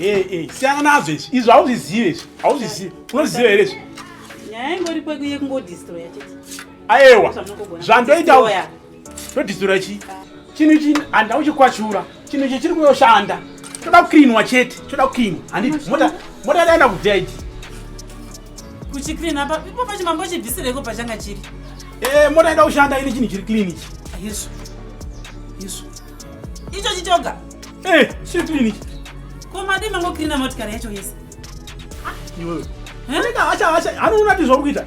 Eh, eh, siyana nazvo izvi izvi hauzvizive izvi hauzvizive unoziva here izvi nyaya ingoripo yekungodistraya chete aewa zvandoita Todhisura chi? Chinhu ichi handau chikwachura. Chinhu ichi chiri kuyoshanda. Choda kukrinwa chete. Choda kukrinwa. Handiti mota mota yaenda kubvira idzi. Kuchikrina apa ipo pachimambo chibvisireko pachanga chiri. Eh mota yaenda kushanda ine chinhu chiri clean ichi. Ah, Yesu. Yesu. Icho chichoga. Eh chiri clean ichi. Ko madii mangokrina motikari yacho yese? Iwewe. Eh? Anenge hacha hacha anoona kuti zvauri kuita.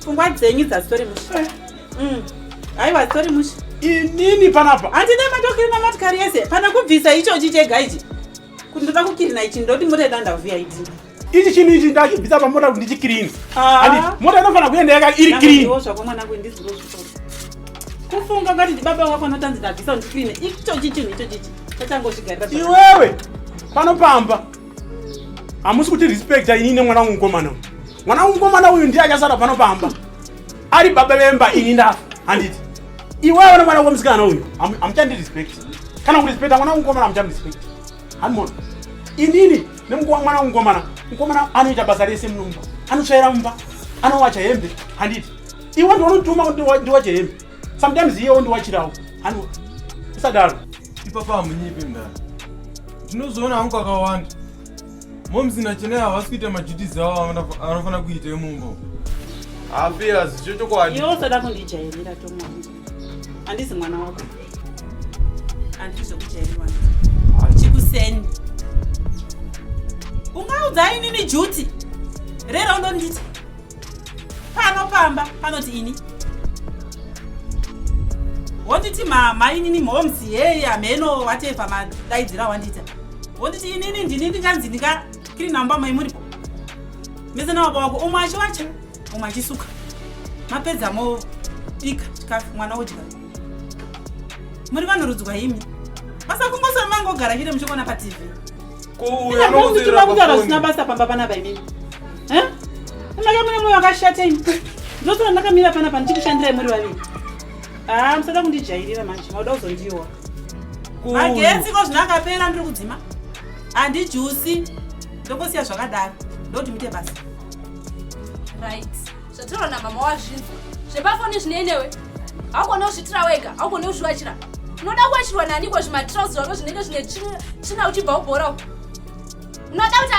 pfungwa dzenyu dzasitori mushe eh. mm. aiwa asitori mushe inini panapa handina matokirina matikari yese pana kubvisa ichochi chega ichi kuti ndoda kukirina ichi ndoti mota ida ndavhuya idi ichi chinhu ichi ndachibvisa pamota kuti ndichikirini ah. mota inofanira kuenda yaka iri kirini kufunga ngati ndibaba wako anotanzi ndabvisa ndikirine ichochi chinhu ichochichi tachangozvigarira iwewe panopamba hamusi kuti respecta ini ine mwana wangu mukomana uyu mwana wangu mukomana uyu ndiye achasara pano pamba ari baba vemba ini ndafa handiti iwewe ne mwana wako musikana uyu hamuchandi respect kana kurespecta mwana wangu mukomana hamuchandi respect hanimona inini nemwana wangu mukomana mukomana anoita basa rese munomba anotsvaira mumba anowacha hembe handiti iwe ndiwanotuma ndiwache hembe sometimes iye ondiwachirawo hanu usadaro ipapa hamunyipe mdara ndinozoona hangu kakawanda momzi nachenai havasi kuita maduties avo anofanira kuita emumbo hafias cho chokwadi iwe usada kundijairira tomwangu handisi mwana wako handiri zvekujairirwa chikuseni ungaudza inini juti rera undonditi pano pamba panoti ini wonditi mainini moms yei hameno watepa madaidzira wandita wonditi inini ndini ndinganzi ndinga kiri namba mai muripo mese nababa wako umwe achiwacha umwe achisuka mapedza mobika chikafu mwana odya muri vanhu rudzwa imi basa kungosoma mangogara chete muchikuona patv kuuyaokuziva kutaura zvisina basa pamba panapa imimi ndaka mune moyo wakashata imi ndosara ndakamira panapa ndichikushandirai muri vaviri haa ah, musada kundijairira manje mauda kuzondiwa magetsi ko zvino akapera ndiri kudzima handijusi ndongosiya zvakadaro ndoti muite basa right zvataurwa namama wazvinzwa zvepafoni zvinei newe haugone kuzvitira wega haugone kuzvivachira unoda kuwachirwa naniko zvimatrouse zvako zvinenge zvine tsvina uchibva ubhora uku unoda kuti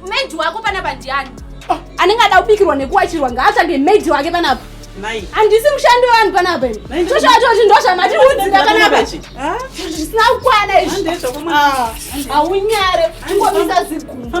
maid wako panapa ndiani ah. anenge ada kubikirwa nekuwachirwa ngaatsvage maid wake panapa handisi mushandi wevanhu panapa toshatozi ndozvamatiudzira panapa zvisina kukwana izvihaunyare ah. ingomisa zigumba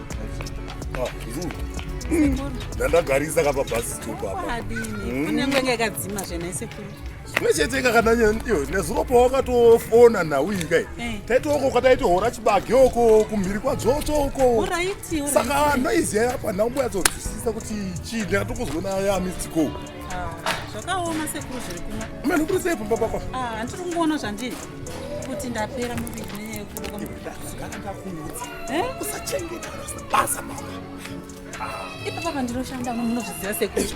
ndandagarisa kapa bus stop apa hmm? kunyange ngakadzima zvena sekuru zvimwe chete kakana iyo nezuro pawakatofona nhau iyi kai eh. taitoko ukataitohora chibage uko kumhiri kwadzvotsvo uko saka noizi yaya apa nhau mboyatsodzwisisa kuti chii ndakatokozwa nayo yamistiko ah, zvakaoma sekuru zviri kumwe mene kuri sei pamba papa ah, handiri kungoona zvandiri kuti ndapera muviri neyeusachengeta basa mama ipa papa ndinoshanda uno munozviziva sekuti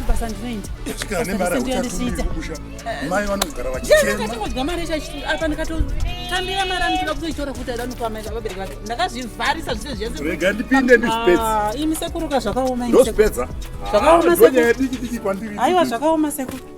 basa ndinoitamai vanogara vachichengatingodya mari apa ndikatotambira mari anotoda kutoitora kuti aida nokuvamaita vabereki vake ndakazvivharisa zvise zvese rega ndipinde ndizvipedzaimi ah, sekuruka zvakaoma zvakaoma sekuru aiwa zvakaoma sekuru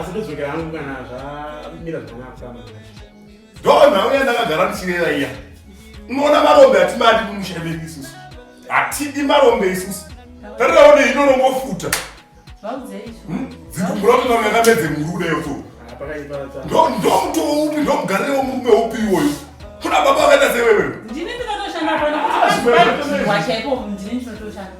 asi ndodzokera hangu kana zvamira zvakanaka kutama ndo nhau yandakagara ndichirera iya unoona marombe hatimadi mumusha medu isusu hatidi marombe isusu tarirawo neino rongofuta hmm? dzikumbura kuti mamwe yakamedze murude yoto ndomutowo upi ndomugarire womurume upi iwoyo kuna baba vakaita sewewe ndini ndinotoshanda pano kuti vaaiwa chaipo ndini ndinotoshanda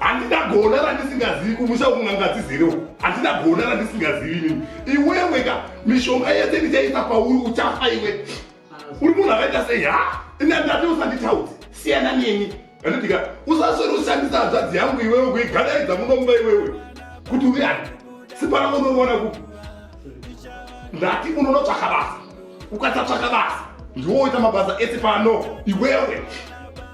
handina gona randisingazivi kumusha uku n'anga dzizere uku handina gona randisingazivi inini iwewe ka mishonga yese ndichaisa pauri uchafa iwe uri munhu akaita sei ha ina ndati usanditaudzi siyana neni anodika usaswere ushandisa hanzvadzi yangu iwewe kuigadaidza munomba iwewe kuti uri ani sipana unoona ku ndati unonotsvaka basa ukasatsvaka basa ndiwoita mabasa ese pano iwewe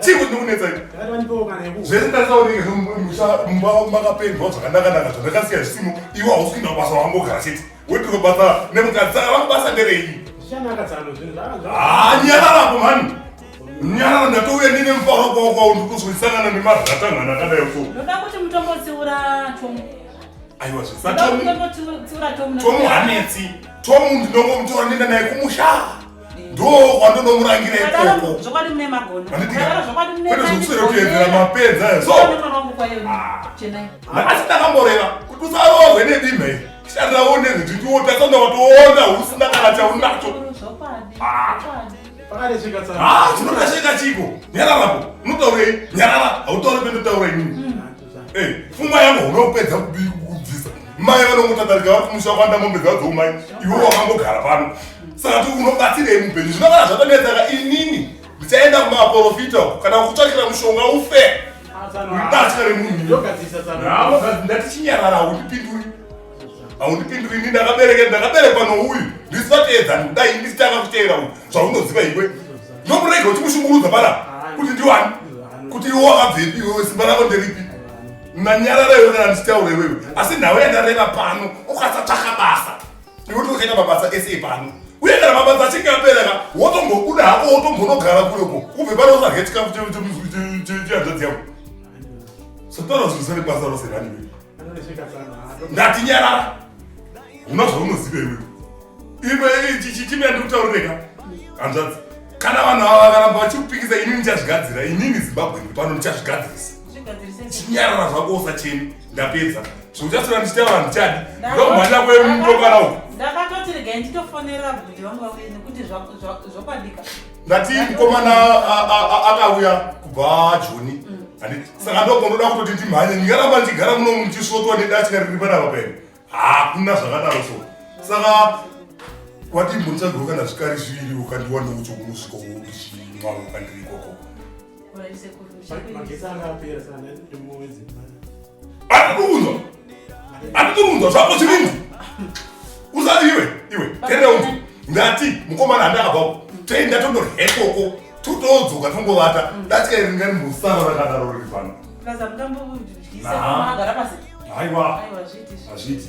chii kuti ndikunetsa zvese ndarisaoneka mumba makapendwa zvakanaka naka zvandakasiya zvisimo iwe hausi kuinda kubasa wangogara chete wetiri kubasa nemukadzi ava kubasa ndereyi nyararako mhani nyarara ndatouya ndine mufaro kwavo kwavo ndikuzwisangana nemarhatangana akadai so ndoda kuti mutombotsiura chomu aiwa zvisatomu hanetsi tomu ndinongomutora ndinda naye kumushaa ndokwandinomurangira ikokokweezvekuserekuyenzera mapenzi ayosoasi ndakamboreva kuti usarohwe nedima iri shandiraone zvititiwotasanda watoona usina kana chaunacho zvinotasheka chiko nyararapo unotaurei nyarara hautaure pendotaura inini Eh, fuma yangu unopedza kubiri kubvisa mai vanongotadarika vari kumusha kwanda mombe dzadzo umai iwe wakangogara pano saka ti unobatsirei mupenyu zvinogara zvatonetsaka inini ndichaenda kumaprofita uko kana kutsvakira mushonga ufe ibatya remunhu ndatichinyarara undipinduri haundipinduri ini ndakabereke ndakaberekwa nouyu ndisi vateedzani kudai ndisi tanga kuteera uyu zvaunoziva iwe nomurege uchimushungurudza para kuti ndiwani kuti iwe wakabvepi iwewe simba rako nderipi nanyarara iwe kana ndichitaura iwewe asi nhau yandareva pano ukasatsvaka basa iwe toochaita mabasa ese pano uye kana mabasa achinge abereka wotombobuda hako wotombonogara kureko ubve pano usarye chikafu chemuzuichianzadzi yako sotara zvirisane basa rose raniwe ndati nyarara huna zvaunoziva iwe imwe chichimi yandikutaureka hanzvadzi kana vanhu ava vakaramba vachikupikisa inini ndichazvigadzira inini zimbabwe ndi pano ndichazvigadzirisa chinyarara zvako usacheni ndapedza zvauchasora ndichita vanhu chadi ndomhanya kwemukokana uku ndakatoti regai nditofonera kuti vanga uye nekuti zvokwadika ndati mukomana akauya kubva joni mm. saka ndokondoda kutoti ndimhanye ndingaramba ndichigara muno ndichisvotwa nedatya riri panapa pene hakuna zvakadaro so saka wati mbonichagiro kana zvikari zviviri ukandiwa ndoucho kunosvika uchichimwa ukandiri ikoko andikuunzwa zvako zvirinzi usati iwe iwe tendeunzi ndati mukomana handi akabvako toenda tondorhekoko totodzoka tongovata ndatika iri ngani musara rakadaro riri pano aiwa hazviti